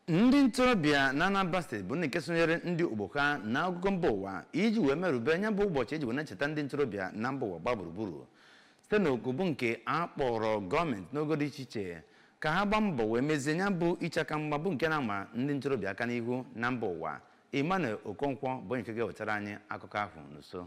ndị ntorobịa na anambra steeti bụ ndị nke sonyere ndị ogbo ha na akụkụ mba ụwa iji wee merube nya bụ ụbọchị eji wee na-echeta ndị ntorobịa na mba ụwa gbaa gburugburu site na oku bụ nke a kpọrọ gọọmenti n'ogo dị iche iche ka ha gbaa mbọ wee mezie nya bụ icheaka mgba bụ nke na-ama ndị ntorobịa aka n'ihu na mba ụwa emmanuel okonkwo bụ onye nke ga-ewetara anyị akụkọ ahụ n'uso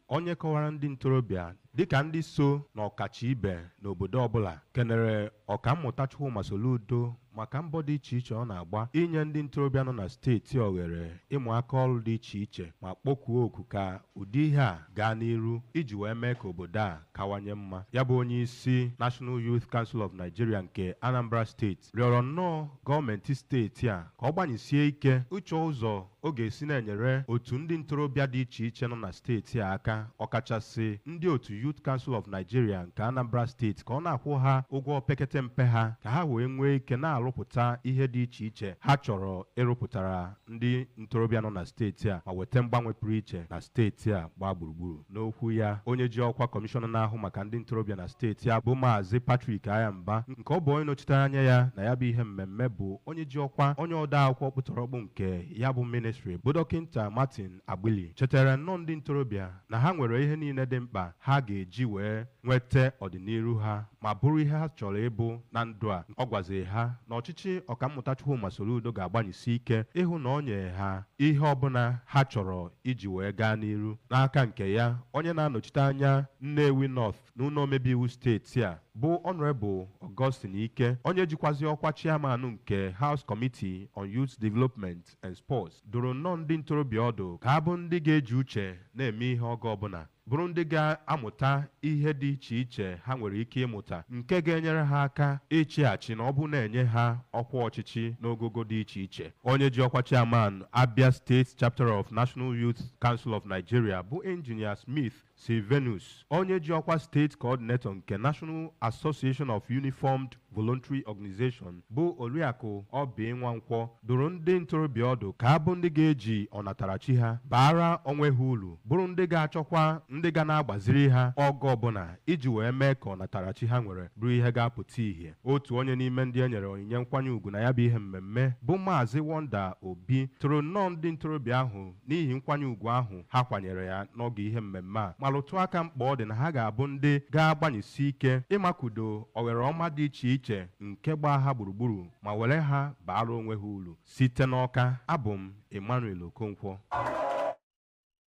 onye kọwara ndị ntorobịa dịka ndị so na ọkacha ibe n'obodo ọbụla kenere ọkammụta Chukwuma Soludo maka mbọ dị iche iche ọ na-agba inye ndị ntorobịa nọ na steeti oghere ịmụ aka ọrụ dị iche iche ma kpọkuo oku ka ụdị ihe a gaa n'iru iji wee mee ka obodo a kawanye mma ya bụ onye isi National Youth Council of Nigeria nke Anambra steeti rịọrọ nnọọ gọọmenti steeti a ka ọ gbanyesie ike ịchọ ụzọ ọ ga-esi na-enyere otu ndị ntorobịa dị iche iche nọ na steeti a aka ọkachasị ndị otu Youth Council of Nigeria nke Anambra steeti ka ọ na-akwụ ha ụgwọ opekete mpe ha ka ha wee nwee ike na-arụpụta ihe dị iche iche ha chọrọ ịrụpụtara ndị ntorobịa nọ na steeti a ma weta mgbanwe pụrụ iche na steeti a gbaa gburugburu N'okwu ya, onye ji ọkwa kọmishọna na-ahụ maka ndị ntorobịa na steeti a bụ Maazị Patrick Aghamba nke ọ bụ onye nọchitere anya ya na ya bụ ihe mmemme bụ onye ji ọkwa onye ode akwụkwọ ọkpụtọrọkpụ nke ya bụ ministri bụ dọkịnta Martin Agbili chetere nnọọ ndị ntorobịa na ha nwere ihe niile dị mkpa ha ga-eji wee nweta ọdịniru ha ma bụrụ ihe ha chọrọ ịbụ na ndụ a ọ gwaziri ha na ọchịchị ọkammụta Chukwuma Soludo ga-agbanyesi ike ịhụ na o nye ha ihe ọbụla ha chọrọ iji wee gaa n'iru n'aka nke ya onye na-anọchite anya Nnewi North na ụlọ omebe iwu steeti a bụ Honorable Augustine Ike onye jikwazi ọkwa chairman nke House Committee on Youth Development and Sports dụrụ nnọọ ndị ntorobịa ọdụ ka ha bụ ndị ga-eji uche na-eme ihe oge ọbụla bụrụ ndị ga-amụta ihe dị iche iche ha nwere ike ịmụta nke ga-enyere ha aka ịchị achị na ọ bụrụ na e nye ha ọkwa ọchịchị n'ogogo dị iche iche onye ji ọkwa chairman Abia State Chapter of National Youth Council of Nigeria bụ Engineer Smith Sylvanus onye ji ọkwa state coordinator nke National Association of Uniformed Voluntary Organization bụ Oriakụ Oby Nwankwọ dụrụ ndị ntorobịa ọdụ ka ha bụ ndị ga-eji ọnatarachi ha baara onwe ha uru bụrụ ndị ga-achọkwa ndị ga na-agbaziri ha oge ọbụla iji wee mee ka ọnatarachi ha nwere bụrụ ihe ga-apụta ihe otu onye n'ime ndị e nyere onyinye nkwanye ugwu na ya bụ ihe mmemme bụ Maazị Wonder Obi toro nnọọ ndị ntorobịa ahụ n'ihi nkwanye ugwu ahụ ha kwanyere ya n'oge ihe mmemme a ma rụtụ aka mkpa ọ dị na ha ga-abụ ndị ga-agbanyesi ike ịmakudo oghere ọma dị iche iche nke gbaa ha gburugburu ma were ha baara onwe ha uru site n'Ọka abụ m Emmanuel Okonkwo